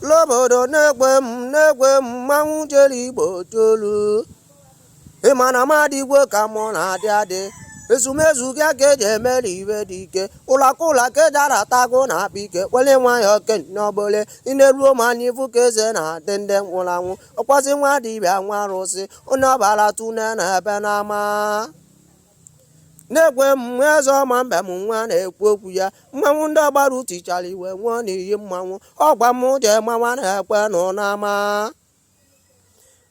n'obodo na-egwe m na-egwe m mmanwụ jere igbo tolu ịma na mmadụ igwe ka mụ na-adị adị ezumezu gị ka eji emere ife dị ike ụlọakụ ụlọ ka eji aratago na akpa ike wele nwayọ kenye ọbụle ị na-eruo ma anyị bụ ka eze na-adị ndị nwụrụ anwụ ọkwazi nwa dibịa nwa arụsị onye agbara tune na ebe n'ama na-ekwe mgbe eze ọma mbem nwa na-ekwu okwu ya mmanwụ ndị agbara tichara iwe nwụọ n'iyi mmanwụ ọgwa m jee mawa na-ekwe nụ n'ama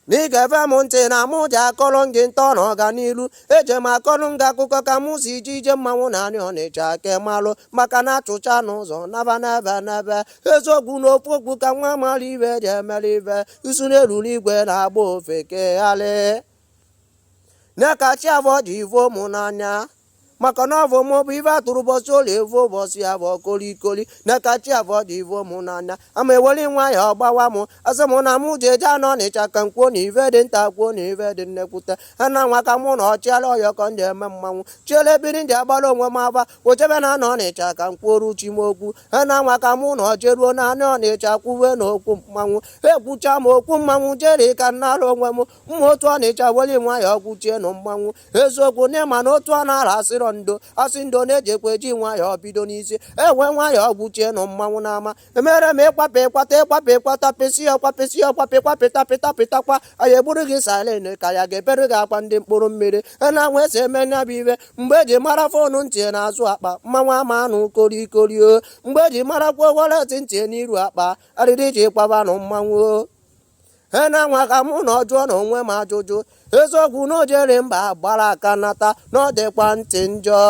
n'ịga ege m ntị na mụ ji akọrọ gị ntọ na ọganiru eje m akọrọ gị akụkọ ka mụ si je ije mmanwụ na anị ọnịcha ka ị malụ maka na achụcha n'ụzọ naba n'ebe n'ebe eziokwu na ofu okwu ka nwa mara ife ji emere ife isu na-eruru igwe na-agba ofeke ghalị nye ka chi abụ ọ dị ivo mụ n'anya maka na ọ bụ mụ bụ ife atụrụ ụbọchị ụlọ evu ụbọchị ya bụ kolikoli nye ka chi abụ ọ dị ivo mụ n'anya ama eweli nwayọ gbawa mụ asị mụ na mụ ji eje anị ọnịcha ka m kwuo na ife dị nta kwuo na ife dị nnekwute ha na nwa ka mụ nọ chịala ọyọ ka ndị eme mmanwụ chiele biri ndị agbara onwe m aba wechebe na anị ọnịcha ka m kwuoru chi m okwu ha na nwa ka mụ nọ jeruo na anị ọnịcha kwuwe na okwu mmanwụ ekwucha m okwu mmanwụ jeri ka m nara onwe m mma otu ọnịcha weli nwayọ ọgwụ chie nụ mmanwụ eziokwu n'ịma na otu a na-ara asịrọ ndo asị ndo na-ejekwa eji nwayọ bido n'isi e wee nwayọ ọgwụ chie nụ mmanwụ n'ama emere m ịkwapụ ịkwata ịkwapụ ịkwata pịsị ọkwapịsị ọkwapị kwapịta pịta pịtakwa anyị egburu gị salen ka ya ga-ebere gị akwa ndị mkpụrụ mmiri na-anwa esi eme nya bụ ife mgbe eji mara fonu dị n'azụ akpa mmanwụ ama anụ korikorio mgbe eji marakwa wọlet dị n'iru akpa arịrị ejikwaba nụ mmanwụ e na-anwa ka mụ nọ jụọ nụ onwe m ajụjụ eziokwu na o jere mba gbara aka nata na ọ dịkwa ntị njọ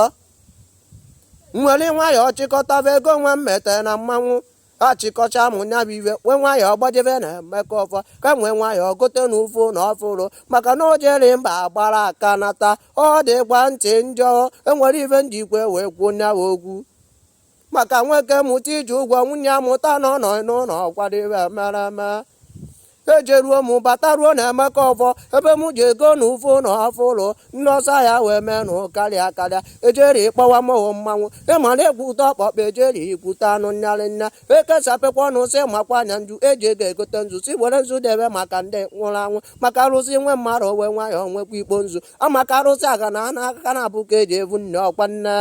m were nwayọọ chịkọtaba ego nwa m metere na mmanwụ achịkọcha m nya bụ ife wee nwayọọ gbajebe na emeka ọfọ ka m wee nwayọọ gote nụ fonu ọfụrụ maka na o jere mba gbara aka nata ọ dịkwa ntị njọ o nwere ife m jikwa wee kwuo nya bụ okwu maka nwoke mụta iji ụgwọ nwunye amụta na ọ nọ n'ụlọ ọkwadebe mara mma ejeruo m bataruo na emeka ọfọ ebe m ji ego nụ fonu ọfụrụ ndị ọsọ afịa wee mee nụ karịa karịa ejeri ịkpọwa mụ mmanwụ ịma na egwu ụtọ ọkpọkpa ejeri ikwute anụ nyarị nna ekesapekwa ọnụ sị makwa anya nju eji ego egote nzu si were nzu debe maka ndị nwụrụ anwụ maka arụsị nwe mmadụ o wee nwayọọ nwekwa ikpo nzu maka arụsị aga na ana aka na-abụ ka eji evu nne ọkwa nne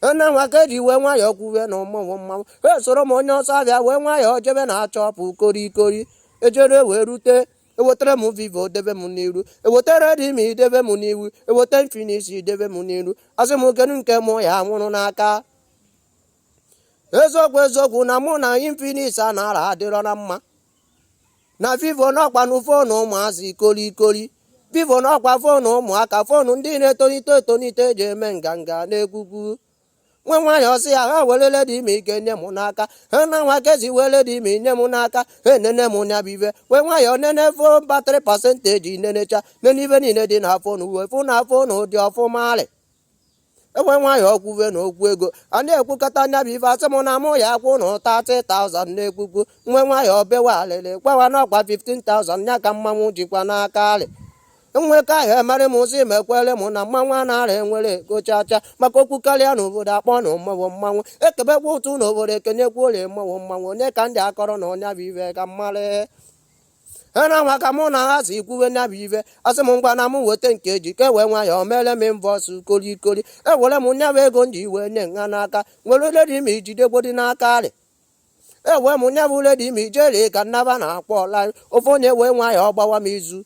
nne nwa ka eji wee nwayọọ kwuwe na mụ wụ mmanwụ e soro m onye ọsọ afịa wee nwayọọ jebe na shop korikori ejere wee rute ewetara m vivo debe m n'iru eweta redmi debe m n'iru eweta infinix debe m n'iru asị m kedu nke mụ ya nwụrụ n'aka eziokwu eziokwu na mụ na infinix a na-ara adịrọ na mma na vivo n'ọkwa na foonu ụmụazị kolikoli vivo n'ọkwa foonu ụmụaka foonu ndị na-etolite etolite eji eme nganga na-ekwukwu wee nwayọ sị ha wele redmi nye m n'aka ha na nwa ka e si wee redmi nye m n'aka ha enene m nya bụ ife wee nwayọ nene fon battery percentage nenecha nene ife niile dị na foonu wee fụ na foonu dị ọfụma alị e wee nwayọ kwuwe na okwu ego a na-ekwukata nya bụ ife asị m na mụ ya akwụ nụ 30,000 na-ekwukwu wee nwayọ bewe alịlị gbawa n'ọkwa 15,000 ya ka mmanwụ jikwa n'aka alị nwe ka ahụ emerị m ụzọ imekwere m na mmanwụ a na-ara enwere ego chacha maka okwu karịa n'obodo akpọ na mmanwụ mmanwụ ekebekwa ụtụ n'obodo ekenyekwalụ mmanwụ mmanwụ nya ka m ji akọrọ unu nya bụ ife ka mmarị ena nwa ka mụ na ha si kwuwe nya bụ ife asị m ngwa na m weta nke ji ka ewee nwayọ mere m mbọsụ kolikoli ewere m nya bụ ego m ji wee nye nha n'aka were redmi jidegodi n'aka arị ewee m nya bụ redmi jiri ka m naba na-akpọ ọla ofu onye wee nwayọ gbawa m izu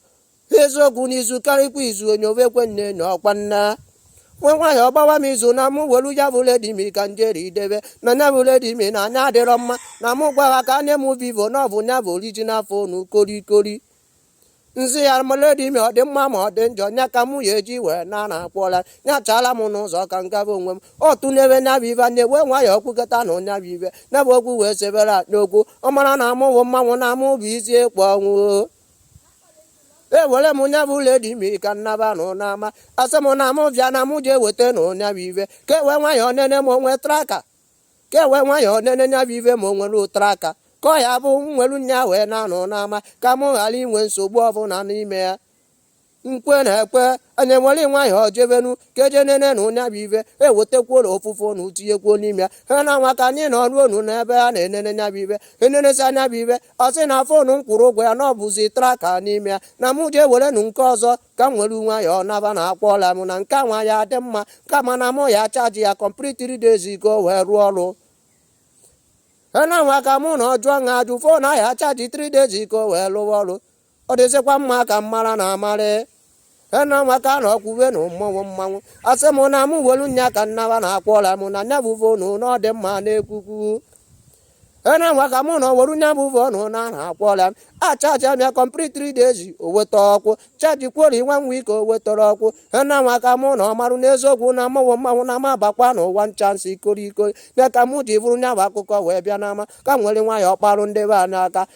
eziokwu n'izu karịkwa izu onye ovekwe nne na ọkwa nna wee nwayọ gbawa m izu na mụ welu ya bụ redmi ka njeri idebe na nya bụ redmi na nya adịrọ mma na mụ gwa ha ka e nye m vivo na ọ bụ nya bụ original fonu korikori m sị ya ma redmi ọ dị mma ma ọ dị njọ nya ka mụ ya eji wee na na akpọla nya chaala m n'ụzọ ka m gaba onwe m ọ tụnyewe nya bụ ive anyị wee nwayọ kwukata na nya bụ ive nya bụ okwu wee sebere n'okwu ọ mara na mụ wụ mmanwụ na mụ bụ isi ekwe ọnwụ ewere m nya bụ redmi ka m naba nụ n'ama asị m na mụ bịa na mụ jee weta nụ nya bụ ive ka ewee nwayọ nene ma o nwe tracker ka ewee nwayọ nene nya bụ ive ma o nwere tracker ka ọ ya-abụ m welu nya wee naa nụ n'ama ka mụ ghara inwe nsogbu ọbụla n'ime ya nkwe na-ekwe anyị were nwayọ jebenu ka eje nene nụ nya bụ ive ewetekwuola ofụfụ na utinyekwuo n'ime ya ha na nwa ka anyị nọrụ onu n'ebe a na-enene nya bụ ive enenesịa nya bụ ive ọ sị na fonu m kwụrụ ụgwọ ya na o buzi tracker n'ime ya na mụ jee were nu nke ọzọ ka m were nwayọọ naba na akpọọla m na nke nwa ya dị mma kama na mụ ya chaji ya complete 3 days ago wee rụọ ọrụ ha na nwa ka mụ na ọjụọ ṅa ajụ fon a ya-achaji 3 days ago wee lụwa ọrụ ọ dịzịkwa mma ka m mara na amarị ena nwaka na ọkwụwe na mmọnwụ mmanwụ asị m na m welu nya ka nnaba na akwọla m na nya bụ phone na ọ dị mma na-ekwukwu ena nwaka mụ na ọwere nya bụ phone na na akwọla m achaji m ya complete 3 days o weta ọkwụ chaji kwori nwa nwa ike o wetara ọkwụ ena nwaka mụ na ọmarụ n'eziokwu na mmọnwụ mmanwụ na ma bakwa na ụwa nchansị ikori ikori ya ka mụ ji buru nya bụ akụkọ wee bịa n'ama ka m were nwayọ kparụ ndị be anyị ụka